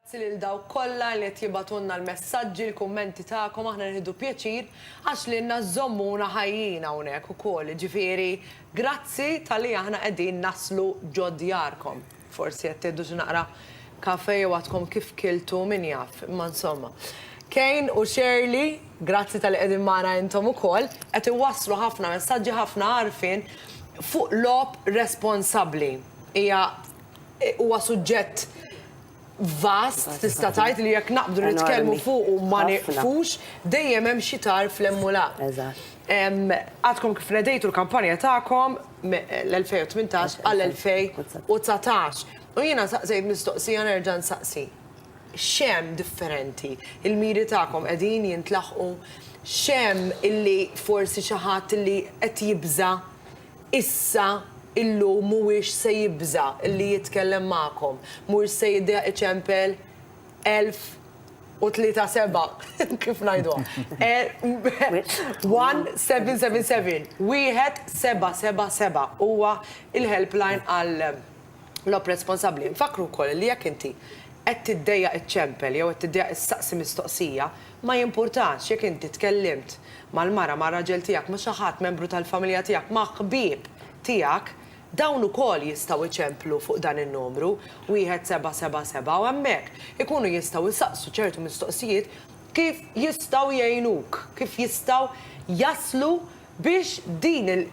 Grazzi lil dawk kollha li qed jibgħatulna l-messaġġi, l-kummenti tagħkom aħna nieħdu pjaċir għax lilna żżommuna ħajjin hawnhekk ukoll. Jiġifieri grazzi talli aħna qegħdin naslu ġo djarkom. Forsi qed tieħdu xi naqra kafe jew għadkom kif kiltu min jaf, imma insomma. Kane u Shirley, grazzi talli qegħdin magħna intom ukoll, qed iwasslu ħafna messaġġi, ħafna għarfien fuq logħob responsabbli. Hija huwa suġġett vast tista' tgħid li jekk naqbdu nitkellmu fuq u ma nieqfux, dejjem hemm xi tarf l-hemm u l-ha. Għadkom kif nedejtu l-kampanja tagħkom, l-2018 għal 2019. U jiena saqsejt mistoqsija nerġa' nsaqsi. Xem differenti? Il-miri tagħkom qegħdin jintlaħqu? Xem illi forsi xi ħadd illi qed jibża' issa illum mhuwiex se jibża' illi jitkellem magħkom, mhux se jiddeq iċempel 1073 kif ngħiduha? 1777 1777 huwa il-helpline għal l-op responsabbli. Nfakkru wkoll li jekk inti qed tiddejjaq iċċempel jew qed tiddejjaq issaqsi mistoqsija, ma jimpurtax jekk inti tkellimt mal-mara, mar-raġel tiegħek, ma' xi ħadd membru tal-familja tiegħek, ma' ħbieb tiegħek, Dawn ukoll jistgħu jċemplu fuq dan in-numru, 1777, u hemmhekk ikunu jistgħu jsaqsu ċertu mistoqsijiet kif jistgħu jgħinuk, kif jistgħu jaslu biex din il,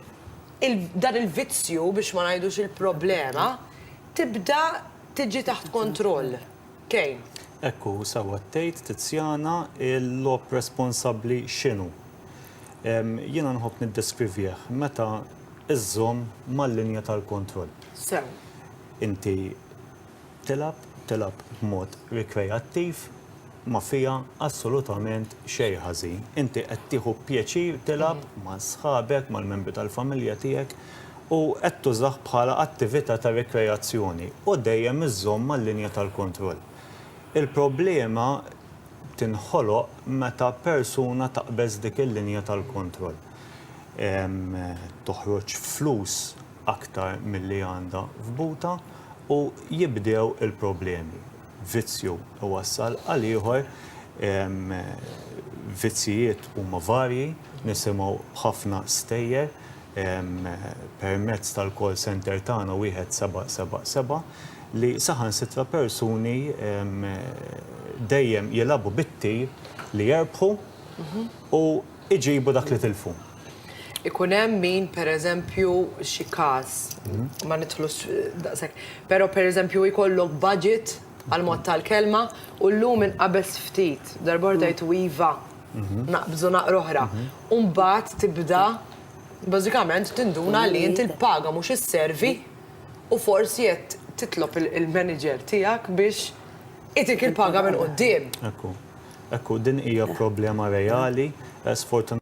il, dan il-vizzju, biex ma ngħidux il-problema, tibda tiġi taħt kontroll. Kejn. Hekk hu, sewwa tgħid, Tiziana, il-logħob responsabbli x'inhu? Jiena nħobb niddeskrivih meta żżomm mal-linja tal-kontroll. Sew. Inti tilgħab, tilgħab b'mod rikreattiv, ma fiha assolutament xejn ħażin. Inti qed tieħu pjaċir tilgħab ma' sħabek, mal-membri tal-familja tiegħek, u qed tużah bħala attività ta' rikreazzjoni u dejjem iżżomm mal-linja tal-kontroll. Il-problema tinħoloq meta persuna taqbeż dik il-linja tal-kontroll, toħroġ flus aktar milli għandha f'butha u jibdew il-problemi. Vizzju iwassal għal ieħor, vizzjijiet huma varji, nisimgħu ħafna stejjer permezz tal-call centre tagħna wieħed seba' seba' seba' li saħansitra persuni dejjem jilagħbu bit-tir li jerbħu u jġibu dak li tilfu. Ikun hemm min pereżempju xi każ, ma nidħlux daqshekk, però pereżempju jkollok budget għall-mod tal-kelma u llum inqabeż ftit, darb'oħra tgħid iva. naqbżu naqra oħra. U mbagħad tibda bażikament tinduna li inti l-paga mhux isservi u forsi qed titlob il-manager tiegħek biex itik il-paga minn quddiem. Ekku. Ekku, din hija problema reali, sfortunatament.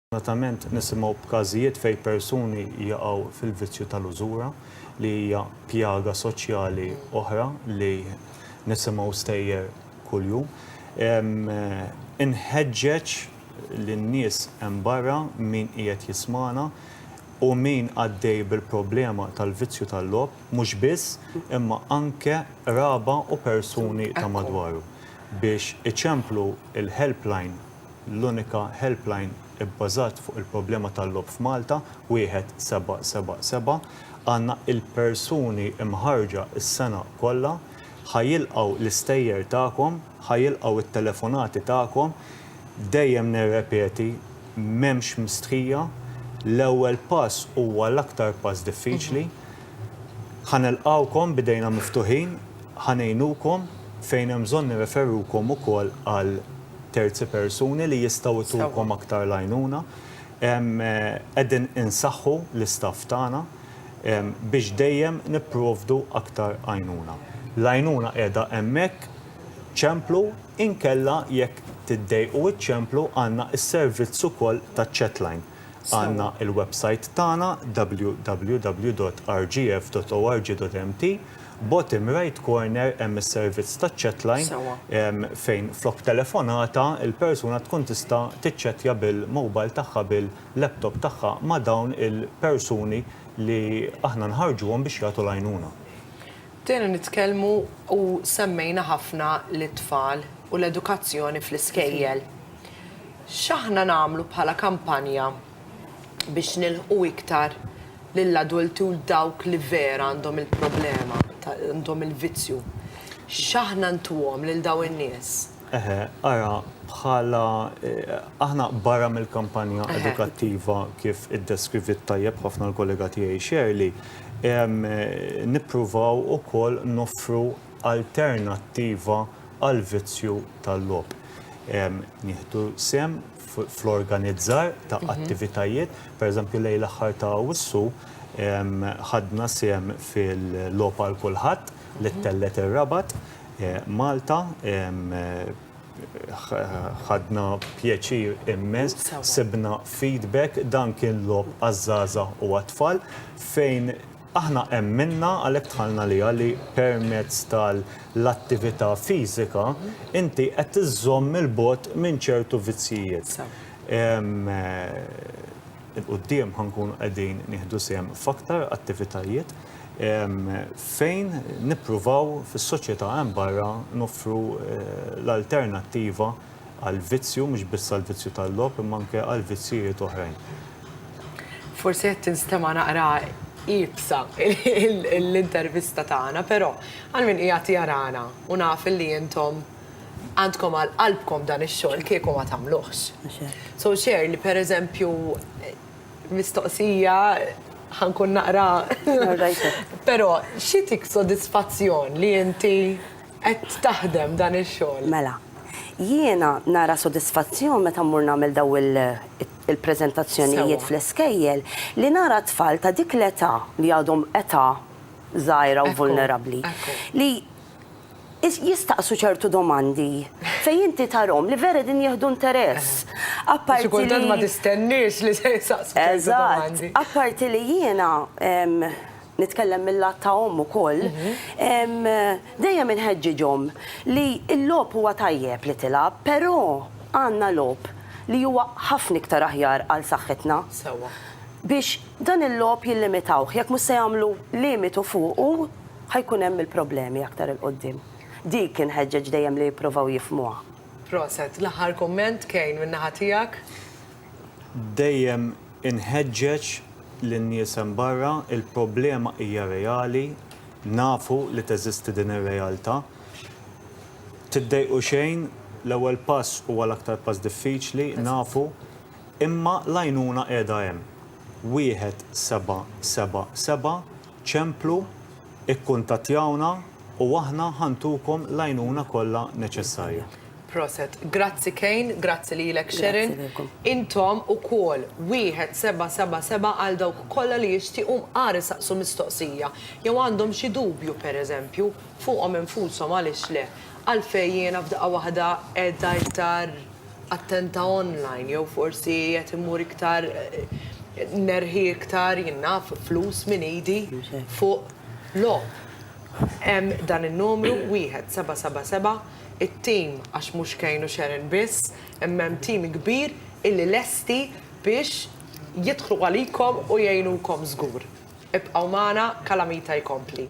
Sfortunatament nisimgħu b'każijiet fejn persuni jaqgħu fil-vizzju tal-użura li hija pjaga soċjali oħra li nisimgħu stejjer kuljum. Inħeġġeġ lin-nies hemm barra, min qiegħed jismagħna u min għaddej bil-problema tal-vizzju tal-logħob, mhux biss, imma anke qraba u persuni ta' madwaru, biex iċemplu l-helpline, l-unika helpline ibbażat fuq il-problema tal-logħob f'Malta, 1777. Għandna il-persuni mħarrġa s-sena kollha. Ħa jilqgħu l-istejjer tagħkom, ħa jilqgħu t-telefonati tagħkom. Dejjem nirrepeti, m'hemmx mistħija. L-ewwel pass huwa l-aktar pass diffiċli. Ħa nilqgħukom b'idejna miftuħin, ħa ngħinukom, fejn hemm bżonn nirreferukom ukoll għal terzi persuni li jistgħu jtukom aktar l-għajnuna. Qegħdin insaħħu l-istaff tagħna biex dejjem nipprovdu aktar għajnuna. L-għajnuna qiegħda hemmhekk, ċemplu, inkella jekk tiddejqu iċċemplu għandna s-servizz ukoll taċ-chatline Għandna il-websajt tagħna www.rgf.org.mt, bottom right corner hemm is-servizz taċ-chatline fejn flok telefonata l-persuna tkun tista' tiċċettja bil-mobile tagħha bil-laptop tagħha ma' dawn il-persuni li aħna nħarrġuhom biex jagħtu l-għajnuna. Bdejna nitkellmu u semmejna ħafna lit-tfal u l-edukazzjoni fl-iskejjel. X'aħna nagħmlu bħala kampanja biex nilħqu iktar lill-adulti u 'l dawk li vera għandhom il-problema, għandhom il-vizzju? X'aħna ntuhom lil dawn in-nies? Eħe, ara, bħala aħna barra mill-kampanja edukattiva kif iddeskriviet tajjeb ħafna l-kollega tiegħi Shirley, nippruvaw ukoll noffru alternattiva għall-vizzju tal-logħob. Nieħdu sehem fl-organizzar ta' attivitajiet, pereżempju lejl l-aħħar ta' Awwissu ħadna sehem fil-Logħob għal Kulħadd li ttellgħet ir-Rabat, Malta, ħadna pjaċir immens, sibna feedback, dan kien logħob għaż-żgħażagħ u għat-tfal fejn aħna emminna għalhekk dħalna għaliha li permezz tal-attività fiżika inti qed iżżomm 'il bogħod minn ċertu vizzjijiet. 'il quddiem ħa nkunu qegħdin nieħdu sehem f'aktar attivitajiet fejn nippruvaw fis-soċjetà hemm barra noffru l-alternattiva għall-vizzju, mhux biss għall-vizzju tal-logħob imma anke għal vizzjijiet oħrajn. Forsi qed tinstema' naqra iebsa l-intervista tagħna, però għal min qiegħed jarana u naf li intom, Għandkom għal qalbkom dan ix-xogħol kieku ma tagħmluhx. So ċer li per eżempju mistoqsija ħankun naqra. Però xi tik sodisfazzjon li inti qed taħdem dan ix-xogħol? Mela, jiena nara sodisfazzjon meta mmur nagħmel daw il-preżentazzjonijiet fl-iskejjel li nara tfal ta' dik l-età li għadhom età żgħira u vulnerabbli li jistaqsu ċertu domandi fejn inti tarahom li vera qegħdin jieħdu interess. Apparti li. Xi kultant ma tistenniex li se jsaqsu ċertu domandi. Eżatt. Apparti li jiena nitkellem mil-lat ta' omm ukoll, dejjem inħeġġiġhom li l-logħob huwa tajjeb li tilgħab, però għandna logħob li huwa ħafna iktar aħjar għal saħħitna. Sewwa. Biex dan il-logħob jillimitawh, jekk mhux se jagħmlu limitu fuqu. ħa jkun hemm il-problemi aktar 'il quddiem. Dik inħeġġeġ dejjem li jipprovaw jifhmuha. Proset. L-aħħar kumment, Kane, min-naħa tiegħek? Dejjem inħeġġeġ lin-nies hemm barra, il-problema hija reali, nafu li teżisti din ir-realtà. Tiddejqu xejn, l-ewwel pass huwa l-aktar pass diffiċli, nafu, imma l-għajnuna qiegħda hemm. Wieħed seba' seba' seba' Ċemplu, ikkuntattjawna u aħna ħa ntukom l-għajnuna kollha neċessarja. Proset. Grazzi Kane, grazzi lilek Sherin. Intom ukoll, wieħed seba' seba' seba' għal dawk kollha li jixtiequ mqar isaqsu mistoqsija jew għandhom xi dubju, pereżempju, fuqhom infushom għaliex le. Għalfejn jiena f'daqqa waħda qiegħda iktar attenta online jew forsi qed immur iktar nerħi iktar jien naf flus minn idi fuq logħob. Hemm dan in-numru 1777 it-tim għax mhux Kane u Sharon biss imma hemm tim kbir illi lesti biex jidħlu għalikom u jgħinukom żgur. Ibqgħu magħna Calamita jkompli.